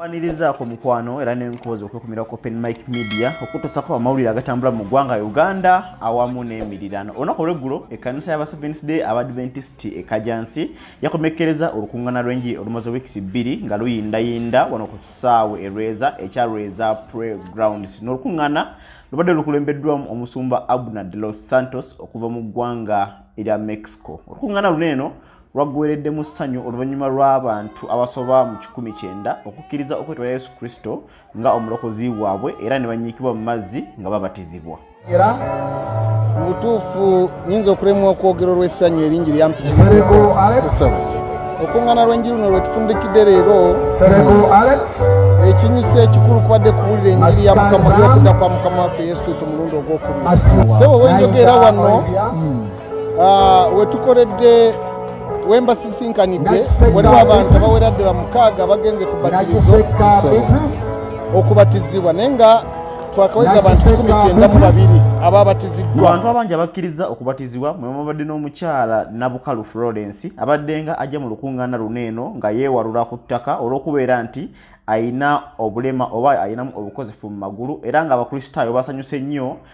kwanirizaako mukwano era nenkozi okwekumira ku open mike media okutusako amawulire agatambula mu ggwanga uganda awamu n'emirirano olunaku olweggulo ekkanisa yaba sevens day abadventist ekajansi yakomekkereza olukungana lw'enjiri olumaze weeks bbiri nga luyindayinda wano ku kisaawe erweza ekya rweza pre grounds n'olukungana lubadde lukulembeddwamu omusumba abner de los santos okuva mu ggwanga erya mexico olukungana luno eno lwaggwereddemu ssanyu oluvannyuma lw'abantu abasoba mu kikumi kyenda okukkiriza okwetwala yesu kristo nga omulokozi waabwe era ne banyiikibwa mu mazzi nga babatizibwa era mu butuufu nyinza okulemwa okwogera olw'essanyu eringi lyampitizeko okuŋŋana lw'enji luno lwe tufundikidde leero ekinyusa ekikulu kubadde kuwulira enjiri ya mukama ly'okudda kwa mukama waffe yesu kristo mulundi ogw'okubiri sebo wenjogera wano ah, wetukoledde wembasisinkanidde waliwo abantu abawera ddala mukaaga bagenze ku batirizo okubatizibwa naye nga twakaweza abantu kikumi kyenda mu babiri ababatiziddwa abantu abangi abakkiriza okubatizibwa mwe mubadde n'omukyala nabukalu florence abaddenga ajja mu lukuŋŋaana luno eno nga yeewalula ku ttaka olw'okubeera nti alina obulema oba alinamu obukozefu mu magulu era ng'abakristaayo basanyuse nnyo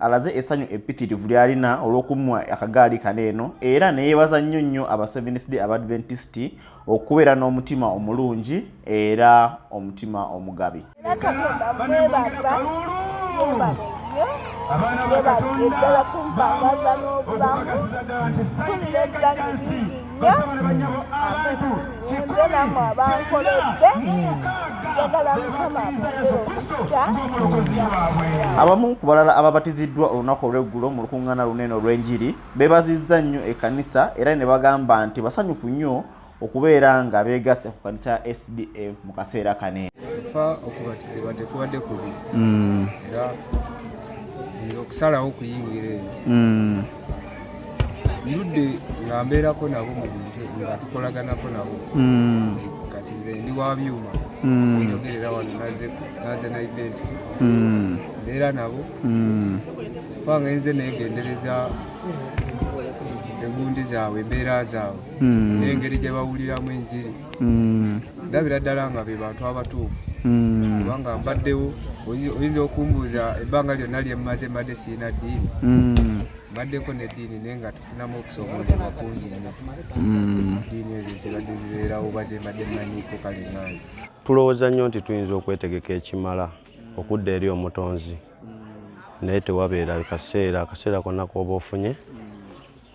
alaze essanyu eppitirivu ly'alina olw'okumuwa akagaali kano eno era ne yeebaza nnyo nnyo aba Seventh Day Abadventist okubeera n'omutima omulungi era omutima omugabi. Abaana ba Katonda, bamuwe okubakozesa ddala nti sayidi y'ekika kya nsi. abamu ku balala ababatiziddwa olunaku olw'eggulo mu lukuŋŋaana lunene olw'enjiri beebazizza nnyo ekkanisa era ne bagamba nti basanyufu nnyo okubeera nga beegasse ku kanisa ya sda mu kaseera kane fa okubatizibwa tekubadde kubi mm. era okusalawo okuyingira eyo mm. ndudde nga mbeerako nabo mu buzike nga tukolaganako nabo hmm. kati nze ndi wa byuma hmm. njogerera wano naze na events hmm. mbeera nabo fa nga enze negendereza engundi zaabwe embeera zaabwe n'engeri gye bawuliramu enjiri mm. ndabira ddala nga be bantu abatuufu mm. kubanga mbaddewo oyinza okumbuuza ebbanga lyonna lyemmaze mbadde sirina ddiini mm. mbaddeko neddiini naye nga tufunamu okusoomozebwa kungi nnyo ddiini ezo zibadde zibeerawo oba zembadde mmanyiiko kale nange tulowooza nnyo nti tuyinza okwetegeka ekimala okudda eri omutonzi naye tewabeera kaseera akaseera konna kooba ofunye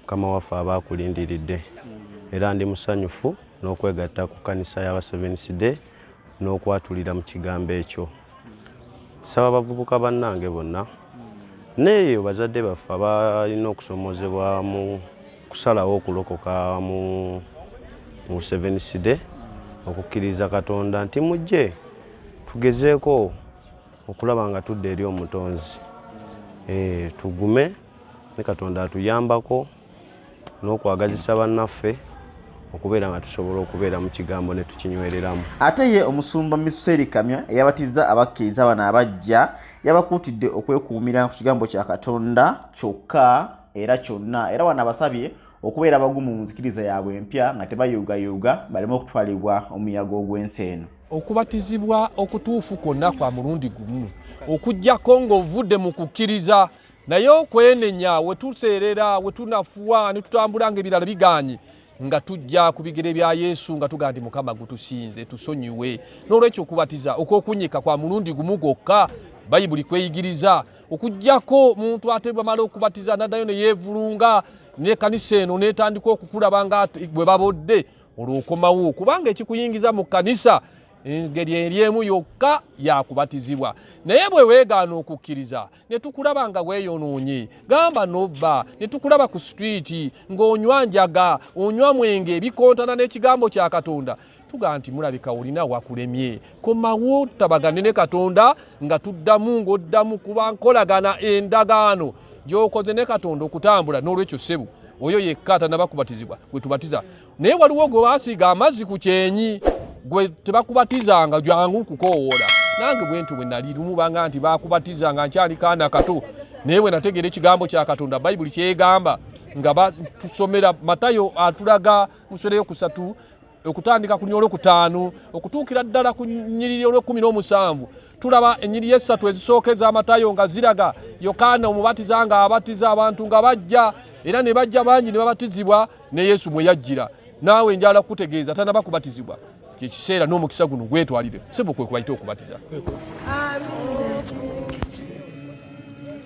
mukama waffe aba akulindiridde era ndi musanyufu n'okwegatta ku kkanisa y'abasevenisi de n'okwatulira mu kigambo ekyo saba abavubuka bannange bonna neeyo bazadde baffe abalina okusomoozebwa mu kusalawo okulokoka mu mu sevenisi de okukkiriza katonda nti mujje tugezeeko okulaba nga tudda eri omutonzi eh, tugume ne katonda atuyambako n'okwagazisa bannaffe okubeera nga tusobola okubeera mu kigambo ne tukinywereramu ate ye omusumba miseri kamya eyabatizza abakkiriza bano abajja yabakuutidde okwekuumira ku kigambo kya katonda kyokka era kyonna era wano abasabye okubeera abagumu mu nzikiriza yaabwe empya nga tebayuugayuuga baleme okutwalibwa omuyaga ogw'ensi eno okubatizibwa okutuufu kwonna kwa mulundi gumu okugyako ng'ovudde mu kukkiriza naye okwenenya wetuseerera wetunafuwa netutambula nga ebirala biganye nga tujja ku bigere bya yesu nga tuga nti mukama gutusinze tusonyiwe n'olwekyo okubatiza okwokunyika kwa mulundi gumu gwokka bayibuli kweyigiriza okugyako muntu ate bamala okubatiza naddayo neyevulunga nekanisa eno netandika okukulaba nga bwe babodde olwokomawo kubanga ekikuyingiza mu kanisa engeri eri emu yokka yakubatizibwa naye bwe weegaana okukkiriza netukulaba nga weyonoonye gamba nobba netukulaba ku sitwiiti ng'onywa njaga onywa mwenge ebikontana n'ekigambo kya katonda tugaa nti mulabika olina wakulemye komawo tutabagane ne katonda nga tuddamu ng'oddamu kuba nkolagana endagaano gyokoze ne katonda okutambula n'olwekyo ssebu oyo yekka atanabakubatizibwa gwetubatiza naye waliwo gwe basiiga amazzi ku kyenyi gwe tebakubatizanga jangu kukowoola nange bwentu bwe nali lumu banga nti bakubatizanga nkyali kaana kato naye bwe nategeera ekigambo kya katonda bayibuli kyegamba nga batusomera matayo atulaga muswera yokusatu okutandika ku nyola okutaano okutuukira ddala ku nyiriri olwekumi n'omusanvu tulaba enyiriri essatu ezisooka ez'amatayo nga ziraga yokaana omubatiza nga abatiza abantu nga bajja era ne bajja bangi ne babatizibwa ne yesu mwe yajjira naawe njala kukutegeeza tanaba kubatizibwa kyekiseera n'omukisa guno gwetwalire sebo kwe kubayita okubatiza Amen.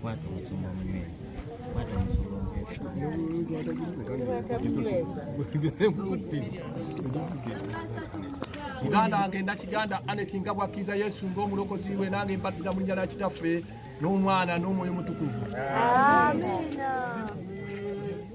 Kwata omusumba omunywezi. Kwata omusumba omunywezi. Muganda wange ndakiganda Anet nga bw'akkiriza Yesu ng'omulokozi we nange mbatiza mu linnya lya Kitaffe n'Omwana n'Omwoyo Mutukuvu. Amiina.